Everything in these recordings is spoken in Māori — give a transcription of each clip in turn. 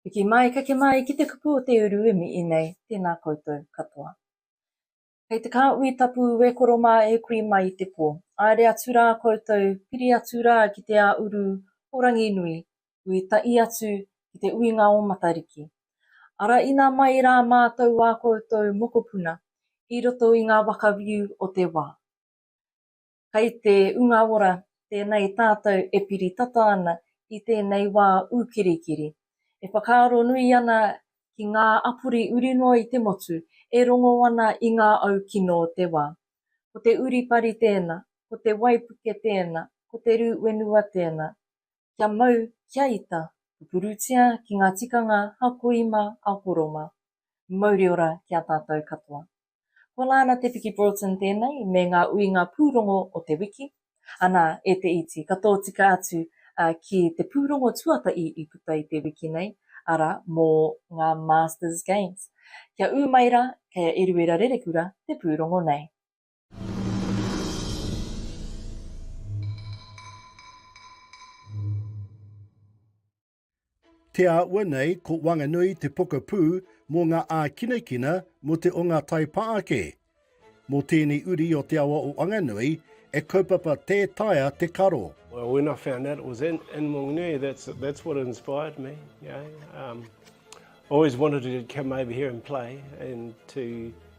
Piki mai, kake mai ki te kupu o te uru e mihi nei, tēnā koutou katoa. Kei te kāhui tapu e koro mā e kui mai i te pō. Aere atu rā koutou, piri atu rā ki te ā uru o Ranginui, ui taʻi atu ki te uinga o Matariki. Araina mai rā mātou ā koutou mokopuna i roto i ngā waka whiu o te wā. Kai te Unga Ora tēnei tātou e piri tata ana i tēnei wā ūkirikiri, e whakaaro nui ana ki ngā apori uri noa i te motu e rongo ana i ngā au kino o te wā. Ko te uripari tēnā, ko te waipuke tēnā, ko te rū whenua tēnā. kia mau, kia ita, pupurutia ki ngā tikanga a ko Ima, a ko Roma. Mauri ora ki a tātou katoa. Ko Lana Te Piki Broughton tēnei me ngā uinga pūrongo o te wiki. Anā, e te iti, ka tōtika atu ki te pūrongo tuatahi i puta i te wiki nei, arā, mō ngā Masters Games. Kia ū mai rā, kei a Eruera Rerekura te pūrongo nei. Te āhua nei ko Wanganui te pokapū mō ngā ākinakina mō te o ngā tai pā ake. Mō tēnei uri o te awa o Wanganui, e kaupapa tē taea te karo. Well, when I found out it was in, in Wanganui, that's, that's what inspired me. You know? um, I always wanted to come over here and play and to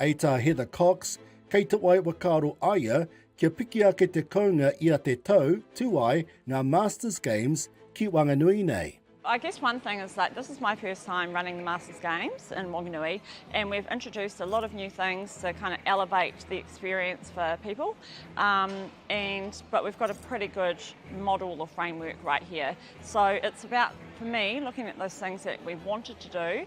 Hei tā Heather Cox, kei Te Wai Whakaaro a ia kia piki ake te kounga i a te tau tū ai ngā Masters Games ki Wanganui nei. I guess one thing is like this is my first time running the Masters Games in Wanganui and we've introduced a lot of new things to kind of elevate the experience for people um, and but we've got a pretty good model or framework right here so it's about for me looking at those things that we wanted to do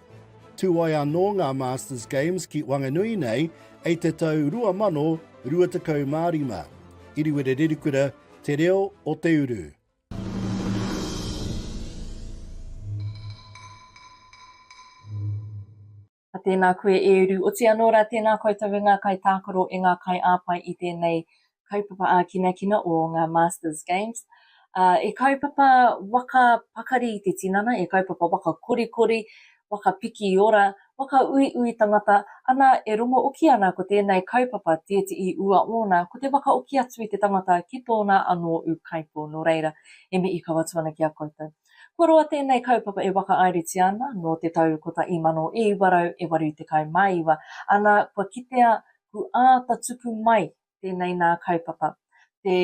Tū ai anō ngā Masters Games ki Wanganui nei ei te tau 2025. Iriwere Rerikura, Te Reo o Te Uru. Ka tēnā koe e uru. Oti anō rā tēnā koutou e ngā kaitākaro, e ngā kaiāwhai i tēnei kaupapa ākinakina o ngā Masters Games, ā, e kaupapa waka pakari i te tinana, e kaupapa waka korikori, waka piki i ora, waka uiui tangata, ana, e rongo oki ana ko tēnei kaupapa tētihi ua ōna, ko te waka oki atu i te tangata ki tōna anō ūkaipō, nō reira, e mihi kau atu ana ki a koutou. Kua roa tēnei kaupapa e whakaaeretia ana nō te tau 1989, ana, kua kitea ku āta tuku mai tēnei nā kaupapa, te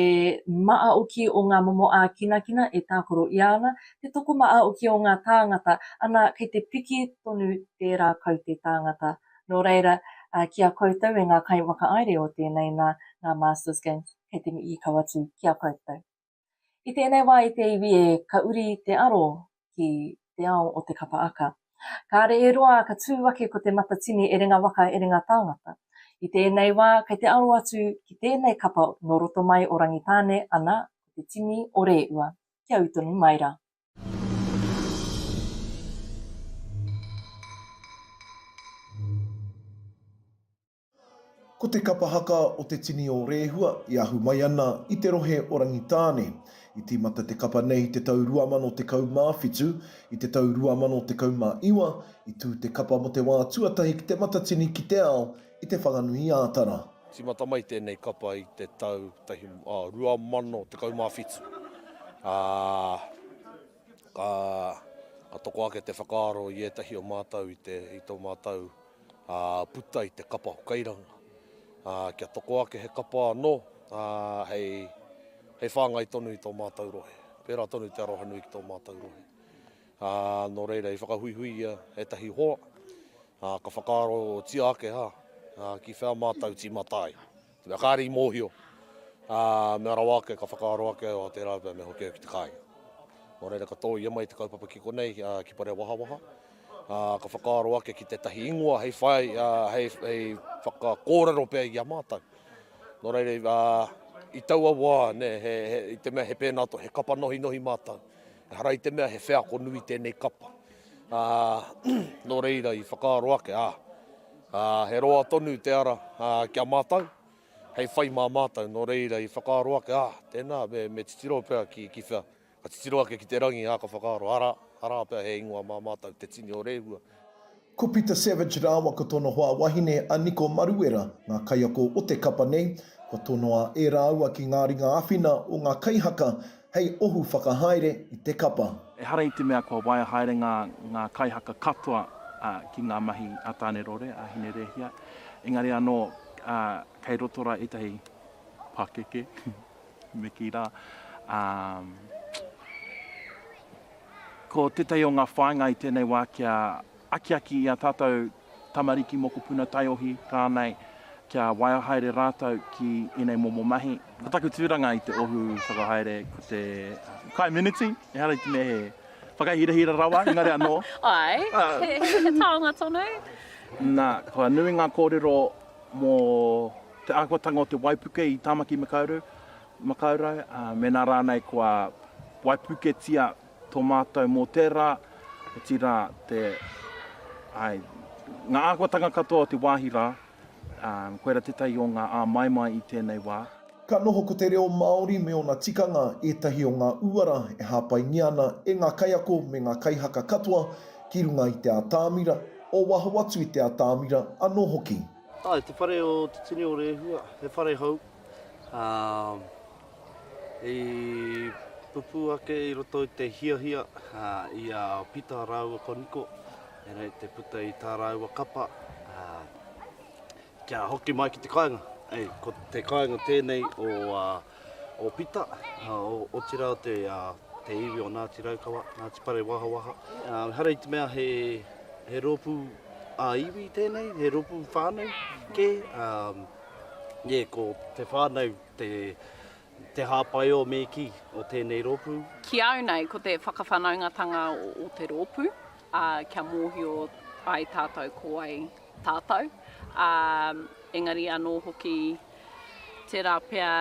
māoki o ngā momo ākinakina e tākoro i ana, te tokomāoki o ngā tāngata, ana, kei te piki tonu tērā kaute tāngata. Nō reira, ki a koutou e ngā kaiwhakaāere o tēnei nā, ngā Masters Games, kei te mihi kawatū ki a koutou. I tēnei wā i te iwi e ka uri te aro ki te ao o te kapa aka. Kāre e roa ka tū ake ko Te Matatini Erenga Waka Erenga Tāngata. I tēnei wā kei te aro atu ki tēnei kapa nō roto mai o Rangitāne ana ko te tini o Rēua. Kia ū tonu mai rā. Ko te kapa haka o te tini o Rehua i ahu mai ana i te rohe o Rangitāne. I tīmata te kapa nei i te tau 2017. I te tau 2019, i tū te kapa mō te wā tuatahi ki te Matatini ki te Ao i Te Whanganui-ā-Tara. I tīmata mai tēnei kapa i te tau 2017, ā, ka toko ake te whakaaro i ētahi o mātou i tō mātou Ā, puta i te kapa o Kairanga. Ā, kia toko ake he kapa anō, ā, hei, hei whāngai tonu i tō mātou rohe. Pērā tonu te arohanui ki tō mātou rohe. Ā, nō reira, i whakahuihuia ētahi hoa, ā, ka whakaarotia ake, hā, ā, ki whea mātou tīmata ai. Mea kāre i mōhio, ā, mea rawa ake ka whakaaro ake au a te rā pea me hoki au ki te kāinga. Nō reira ka tōia mai te kaupapa ki konei, ā, ki Parewahawaha, ā, ka whakaaro ake ki tētahi ingoa hei whai, ā, hei, hei whakakōrero pea i a mātou. Nō reira, ā, i taua wā, nē, he, he, i te mea he pēnā, he kapa nohinohi mātou, Ehara i te mea he wheako nui tēnei kapa, ā, nō reira i whakaaro ake, ā, ā, he roa tonu te ara, ā, ki a mātou, hei whai mā mātou, nō reira i whakaaro ake, ā, tēnā, me, me titiro pea ki, ki whea, ka titiro ake ki te rangi, ā, ka whakaaro, arā, arā pea he ingoa mā mātou, te tini o Rehua. Ko Pita Savage rāua ko tōna hoa wahine a Niko Maruera ngā kaiako o te kapa nei. Kua tonoa e rāua ki ngā ringa āwhina o ngā kaihaka hei ohu whakahaere i te kapa. Ehara i te mea kua waia haere ngā ngā kaihaka katoa ki ngā mahi a Tāne Rore, a Hine Rēhia, engari anō kei roto rā ētahi pakeke. Me kī rā, ā, ko tētahi o ngā whāinga i tēnei wā kia akiaki i ā tātou tamariki, mokopuna, taiohi rānei, kia waia haere rātou ki ēnei momo mahi. Ko taku tūranga i te ohu whakahaere ko te kai meneti, ehara i te mea he whakahirahira rawa, engari anō. Āe, he taonga tonu. Nā, kua nui ngā kōrero mō. Te āhuatanga o te waipuke i Tāmaki Makaurau, Makaurau, ā, mēnā rānei kua waipuketia tō mātou mō tērā, otirā te, āe, ngā āhuatanga katoa o te wāhi rā, ā, koirā tētahi o ngā āmaimai i tēnei wā. Ka noho ko te reo Māori me ōna tikanga ētahi o ngā uara e hāpaingia ana e ngā kaiako me ngā kaihaka katoa ki runga i te atamira, o waho atu i te atamira anō hoki. Ae, te whare o Te Tini o Rehua, he whare hou, ā, i pupū ake i roto i te hiahia i a Pita rāua ko Niko, ēnei te puta i tā rāua kapa, ā, kia hoki mai ki te kāinga. Hei, ko te kāinga tēnei o, ā, o Pita, otirā te iwi o Ngāti Raukawa, Ngāti Parewahawaha. Ehara i te mea he rōpū ā-iwi tēnei, he rōpū whānau kē. Nē, ko te whānau te hāpai o me kī o tēnei rōpū. Ki au nei, ko te whakawhanaungatanga o te rōpū, kia mōhio ai tātou ko wai tātou, ā, engari anō hoki tērā pea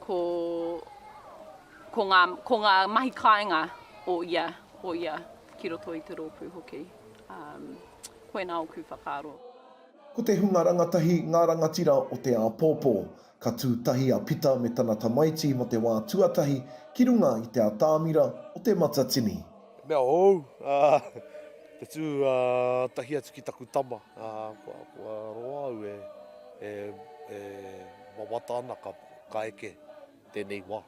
ko, ko, ngā, ko ngā mahi kāinga o ia, o ia ki roto i te rōpū hoki. Ā, koinā ōku whakaaro. Ko te hunga rangatahi ngā rangatira o te āpōpō. Ka tū tahi a Pita me tana tamaiti mō te wā tuatahi ki runga i te atāmira o Te Matatini. He mea hou te tū tahi atu ki taku tama, kua roa au e wawata ana ka eke tēnei wā.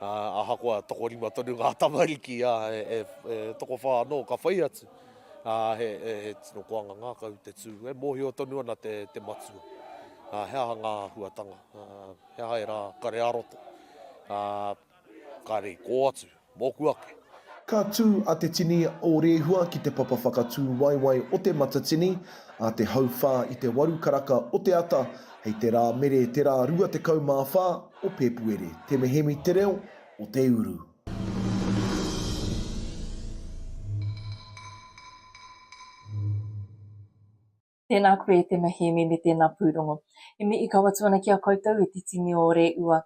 Ahakoa tokorima tonu ngā tamariki, e tokowhā anō ka whai atu. ā, he, he, he tino koanga ngākau te tū, e mōhio tonu ana te, te matua, ā, he aha ngā āhuatanga, ā, he aha ērā kare ā-roto, ā, kāre i kō atu, mōku ake. Ka tū a Te Tini o Rehua ki te papa whakatūwaewae o Te Matatini, a te hauwhā i te waru karaka o te ata, hei te Rāmere te rā 24 o Pēpuere, te mehemi te reo o te uru. Tēnā koe e te Mahiemi me tēnā pūrongo. E mihi kau atu ana ki a koutou e te tini o Reua.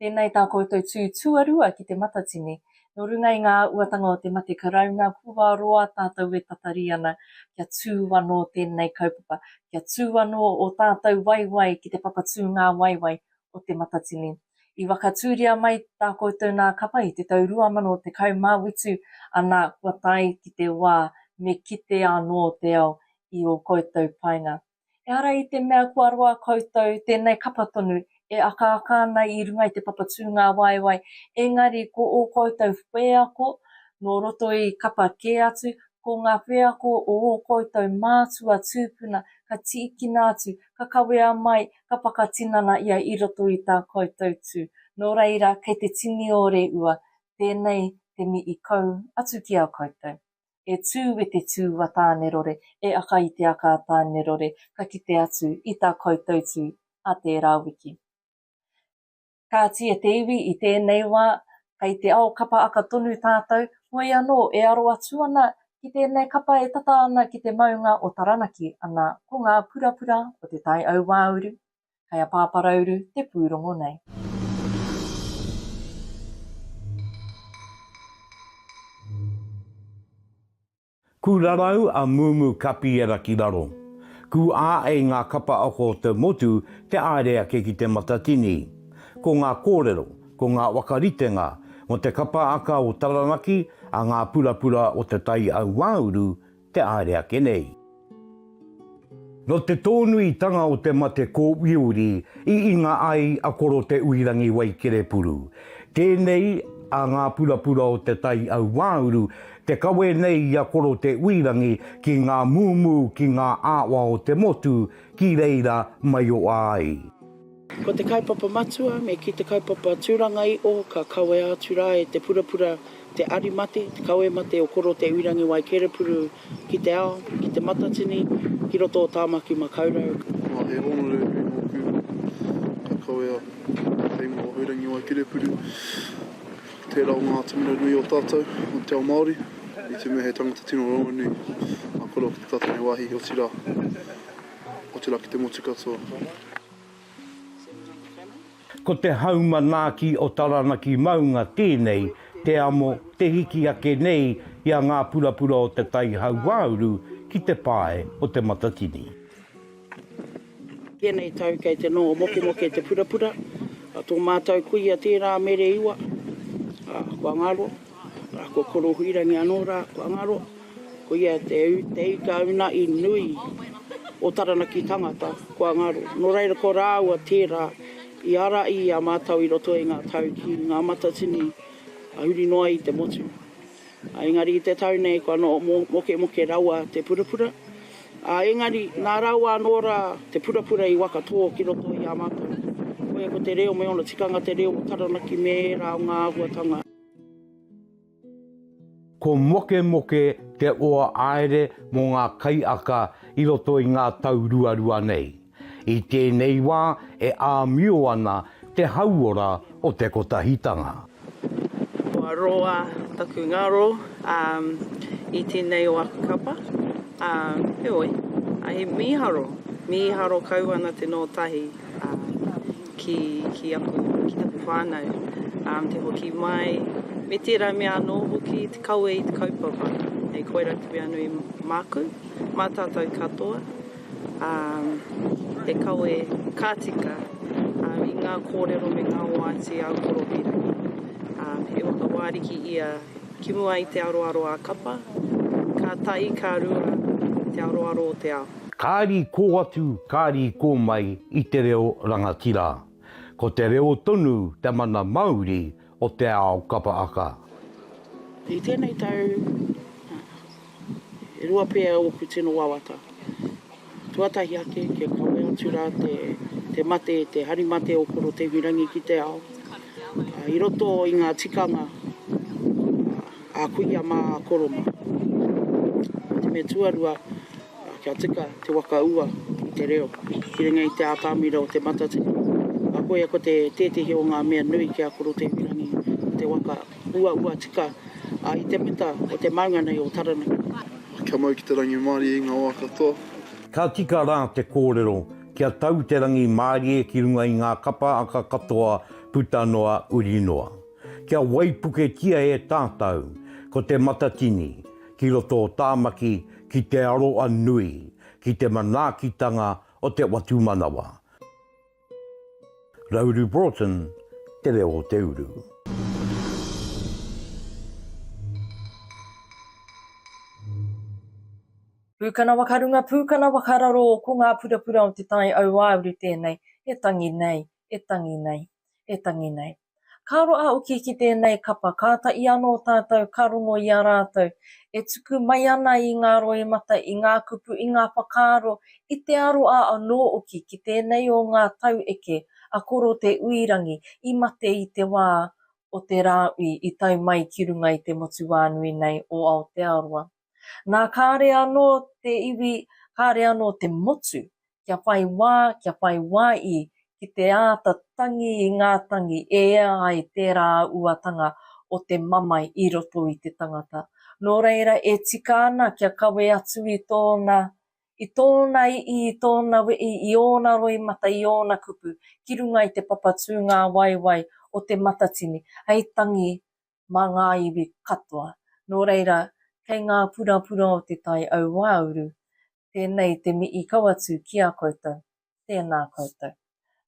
Tēnei tā koutou tū tuarua ki te matatini. Nō runga i ngā auatanga o te mate karauna kua roa tātou e tatari ana kia tū anō tēnei kaupapa, kia tū anō ō tātou waewae ki te papatū ngāwaiwai o Te Matatini. I whakatūria mai tā koutou nā kapa i te tau 2018, anā, kua tae ki te wā me kite anō te ao i ō koutou painga. Ehara i te mea kua roa koutou, tēnei kapa tonu e akaaka ana i runga i te papa tūngāwaewae, engari ko ō koutou wheako nō roto i kapa kē atu, ko ngā wheako o ō koutou mātua tūpuna ka tīkina atu, ka kawea mai ka whakatinana ia i roto i tā koutou tū. Nō reira, kei te tini o Reua, tēnei te mi i kau atu ki a koutou. E tū e te tū a Tānerore, e aka i te aka a Tānerore, ka kite atu i tā koutou tū a tērā wiki. Kāti e te iwi i tēnei wā, kei te ao kapa aka tonu tātou, hoi anō e aro atu ana ki tēnei kapa e tata ana ki te maunga o Taranaki, ana, ko ngā purapura o Te Tai Auāuru, kei a Pāparauru te pūrongo nei. Ku rarau a Mumu Kapiera ki raro. Ku āei ngā kapa ako o te motu te aere ake ki Te Matatini. Ko ngā kōrero, ko ngā wakaritenga mo te kapa aka o Taranaki a ngā purapura o te Tai Auāuru te aere ake nei. Nō te tōnuitanga o te mate kōuiuri i inga ai a Koro Te Uirangi Waikerepuru. Tēnei a ngā purapura o Te Tai Auāuru te kawe nei i a Koro Te Uirangi ki ngā mūmū ki ngā āwa o te motu ki reira maioa ai. Ko te kaupapa matua, me kī te kaupapa tūranga-i-o, ka kawea atu rā e te purapura te ari mate, te kawe mate o Koro Te Uirangiwai Kerepuru ki te ao, ki Te Matatini, ki roto o Tāmaki Makaurau. Nā, he hōnore nui nōku, ka kawea te teina o Uirangiwai Kerepuru, tērā o ngā atamira nui o tātou, o te ao Māori, i te mea he tangata tino rongonui a Koro ki te tatari wāhi, otirā. Otirā ki te motu katoa. Ko te hau manaaki o Taranaki Maunga tēnei, te amo, te hiki ake nei i a ngā purapura o te tai hauāuru ki te pae o Te Matatini. Tēnei tau kei te noho mokemoke te purapura, tō mātou kuia tērā mere iwa, kua ngaro. Ra ko Korohuirangi ano ra kua ngaro, ko ia te teikauna i nui o Taranaki tangata kua ngaro. No reira ko raua tera i ara i a matou i roto i nga tau ki nga matatini a huri noa i te motu. Engari i te tau nei kua no mokemoke raua te purapura, a engari na raua ano ra te purapura i waka to ki roto i a matou. Koia ko te reo me ona tikanga te reo o Taranaki me era o nga ahuatanga. Ko Mokemoke te oa aere mō ngā kaiaka i roto i ngā tau ruarua nei. I tēnei wā e āmio ana te hauora o te kotahitanga. Kua roa taku ngaro i tēnei o aku kapa, ā, heoi, he mīharo, mīharo kau ana te nō tahi. ki ki aku ki taku whanau ā te hoki mai me tērā mea anō hoki te kawe i te kaupapa hei koira te mea nui māku mā tātou katoa ā he kawe ka tika ā i ngā kōrero me ngā oati ā koropiro ā he waka wāriki ia ki mua i te aroaro ā kapa ka tahi ka rua te aroaro o te ao. Kāri kō atu, kāri kō mai i te reo rangatira. Ko te reo tonu te mana mauri o te ao kapa aka. I tēnei tau, e rua pea ōku tino wawata. Tuatahi ake, kia kawe atu rā te mate, te hari mate o Korotehurangi ki te ao, i roto i ngā tikanga. A kuia ma koro ma. Ko te mea tuarua, kia tika te waka ua i te reo ki runga i te atamira o te matatini. A koia ko te tetehi o nga mea nui ki a koro Teiwirangi ko te waka ua ua tika a i te muta o te maunga nei o Taranaki. Kia mau ki te rangimārie i nga wa katoa. Ka tika ra te korero kia tau te rangi mārie ki runga i nga kapa aka katoa puta noa uri noa. Kia waipuketia e tātau ko Te Matatini ki roto o Tāmaki ki te aroa nui ki te manaakitanga o te whatumanawa. Rauru Broughton, Te Reo o te Uru. Pūkana wakarunga, pūkana wakararo, ko ngā purapura o Te Tai Auāuru tēnei e tangi nei, e tangi nei. e tangi nei. Ka roa hoki ki tēnei kapa, kātahi anō tātou ka rongo i a rātou e tuku mai ana i ngā roimata, i ngā kupu, i ngā whakaaro, i te aroā anō oki ki tēnei o ngā taueke a Koro Te Uirangi i mate i te wā o te rāui i tae mai ki runga i te motuwānui nei o Aotearoa. Nā kāre anō te iwi, kāre anō te motu kia whai wā, kia whai wā i ki te āta tangi i ngā tangi e ea ai tērā uatanga o te mamae i roto i te tangata. Nō reira e tika ana kia kawe atu i tōna, i tōna ii, i tōna wii, i ōna roimata, i ōna kupu ki runga i te papatū ngāwaiwai o te matatini hei tangi mā ngā iwi katoa. Nō reira, kei ngā purapura o Te Tai Auāuru tēnei te mihi kau atu ki a koutou, tēnā koutou.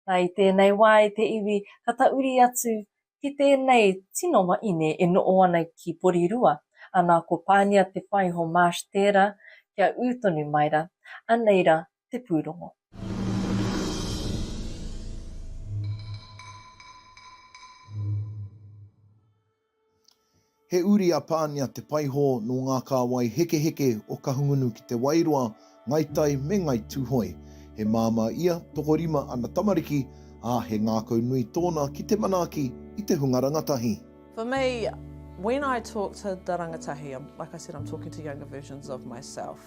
Na, i tēnei wā i te iwi ka tauri atu ki tēnei tino wahine e noho ana ki Porirua, ana ko Pānia Te Whaiho Marsh tērā, kia ū tonu mai ra, anei ra te pūrongo. He uri a Pānia Te Paihō nō ngā kāwai hekeheke o Kahungunu ki Te Wairoa, Ngai Tai me Ngai Tūhoe. He māmā ia, tokorima ana tamariki, ā, he ngākau nui tōna ki te manaaki i te hunga rangatahi. For me, when I talk to the rangatahi, like I said, I'm talking to younger versions of myself.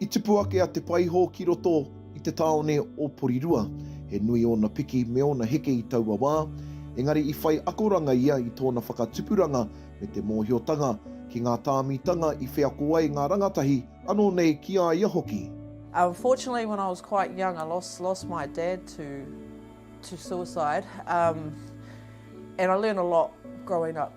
I tipu ake a Te Paihō ki roto i te tāone o Porirua. He nui ōna piki me ōna heke i taua wā, engari i whai akoranga ia i tōna whakatupuranga me te mōhiotanga ki ngā tāmitanga i wheako ai ngā rangatahi, anō nei ki a ia hoki. Unfortunately when I was quite young I lost lost my dad to to suicide um and I learned a lot growing up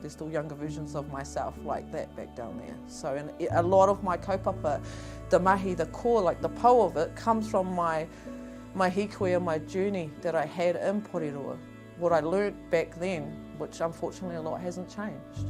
There's still younger versions of myself like that back down there. So in a lot of my kaupapa, the mahi, the core, like the po of it, comes from my, my hikoi and my journey that I had in Porirua. What I learnt back then, which unfortunately a lot hasn't changed.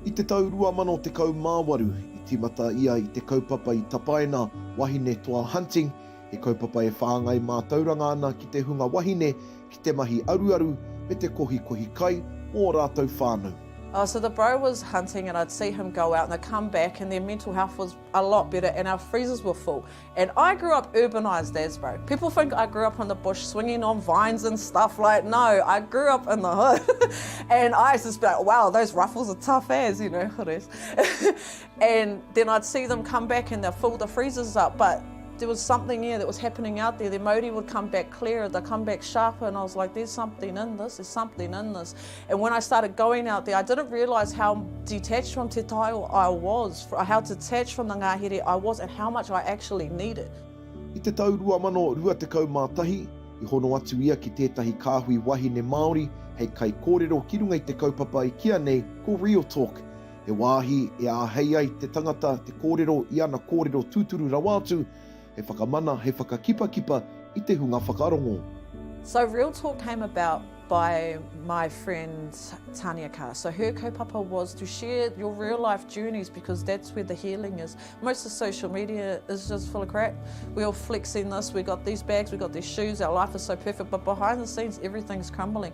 I te tau 2018, i tīmata ia i te kaupapa i tapaina, Wahine Toa Hunting, he kaupapa e whāngai mātauranga ana ki te hunga wahine ki te mahi aruaru me te kohikohi kai o ō rātou whānau. Oh so the bro was hunting and I'd see him go out and I'd come back and their mental health was a lot better and our freezers were full and I grew up urbanised as bro people think I grew up in the bush swinging on vines and stuff like no I grew up in the hood and I used to be like wow those ruffles are tough as you know hood as And then I'd see them come back and they'd fill the freezers up, but there was something yeah, that was happening out there. Their mauri would come back clearer, they'd come back sharper, and I was like, there's something in this, there's something in this. And when I started going out there, I didn't realise how detached from Te Taiwa I was, how detached from the ngahere I was, and how much I actually needed. I te tau 2021, i hono atu ia ki tētahi kāhui wahine Māori hei kaikōrero ki runga i te kaupapa i kīa nei ko Real Talk. He wāhi e āhei ai te tangata te kōrero i ana kōrero tūturu rawa atu, hei whakamana, hei whakakipakipa i te hunga whakarongo. So Real Talk came about by my friend Tania Carr. So her kaupapa was to share your real life journeys because that's where the healing is. Most of social media is just full of crap. We're all flexing this, we've got these bags, we've got these shoes, our life is so perfect, but behind the scenes everything's crumbling.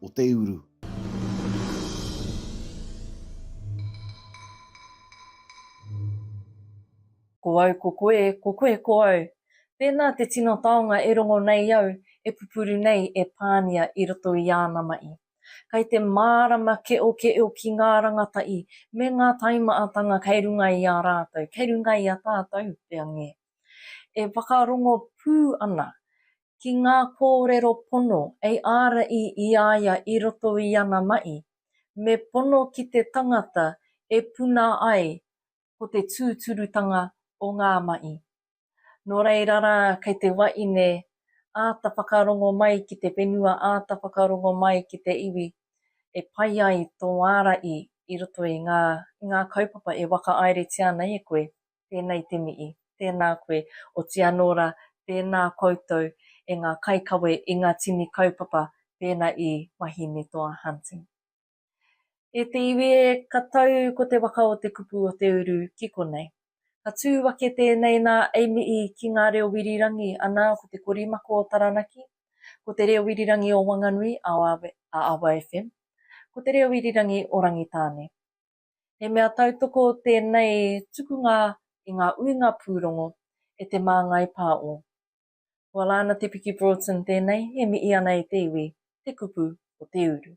o te uru. Ko au ko koe, ko koe ko au. Tēnā te tino taonga e rongo nei au, e pupuru nei e Pānia i roto i āna mahi. Kai te mārama keokeo ki ngā rangatahi me ngā taimaatanga kei runga i a rātou, kei runga i a tātou, te ange. E whakarongo pū ana ki ngā kōrero pono ei āraī i a ia i roto i ana maʻi, me pono ki te tangata e puna ai ko te tūturutanga o ngā maʻi. Nō reira rā kei te waʻine āta whakarongo mai ki te whenua āta whakarongo mai ki te iwi e pai ai tō āraī i roto i ngā i ngā kaupapa e wakaairetia ana e koe. tēnei te mihi, tēnā koe, oti anō rā, tēnā koutou e ngā kaikawe i ngā tini kaupapa pēnā i Wahinetoa Hunting. E te iwi e, ka tau ko te waka o te kupu o te uru ki konei. Ka tū ake tēnei nā Ami'i ki ngā reo Wirirangi anā ko te korimako o Taranaki, ko te reo Wirirangi o Wanganui, a Awa FM, ko te reo Wirirangi o Rangitāne. He mea tautoko tēnei tukunga i ngā uinga pūrongo e Te Māngai Pā o. Kua Laana Te Piki Broughton tēnei e mihi ana i te iwi, te kupu o te uru.